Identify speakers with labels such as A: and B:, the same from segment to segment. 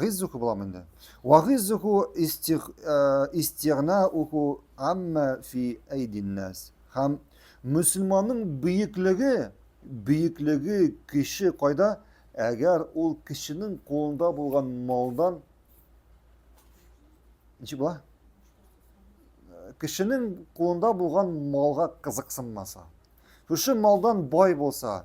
A: Гиззуху буламы инде? Ва гиззуху истигнауху амма фи әйдиннәс. Һәм мөселманның бөеклеге, бөеклеге кеше кайда? Әгәр ул кешенең кулында булган малдан Ничек була? Кешенең кулында булган малга кызыксынмаса. Шушы малдан бай булса,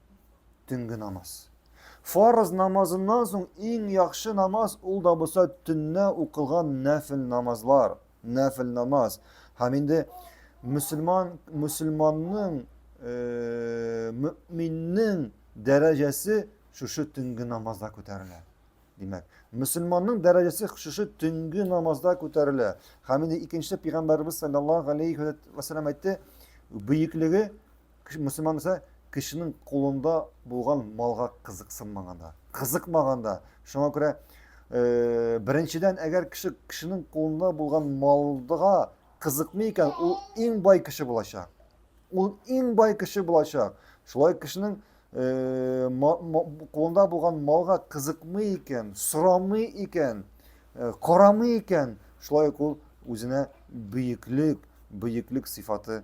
A: төнге намаз. Фарыз намазыннан соң иң яхшы намаз ул да булса төнне укылган нәфил намазлар, нәфил намаз. Һәм инде мөселман мөселманның э, мөминнең дәрәҗәсе шушы төнге намазда күтәрелә. Димәк, мөселманның дәрәҗәсе шушы төнге намазда күтәрелә. Һәм инде икенче пәйгамбәрбез саллаллаһу алейхи ва саллям әйтте, бөеклеге Кеше мөселман мисә кешенең кулында булган малга кызыксынмаганда, кызыкмаганда. Шуңа күрә э, беренчедән, әгәр кеше кешенең кулында булган малга кызыкмый икән, ул иң бай кеше булачак. Ул иң бай кеше булачак. Шулай кешенең э, кулында булган малга кызыкмый икән, сорамый икән, э, карамый икән, шулай ук ул үзенә бөеклек, бөеклек сыйфаты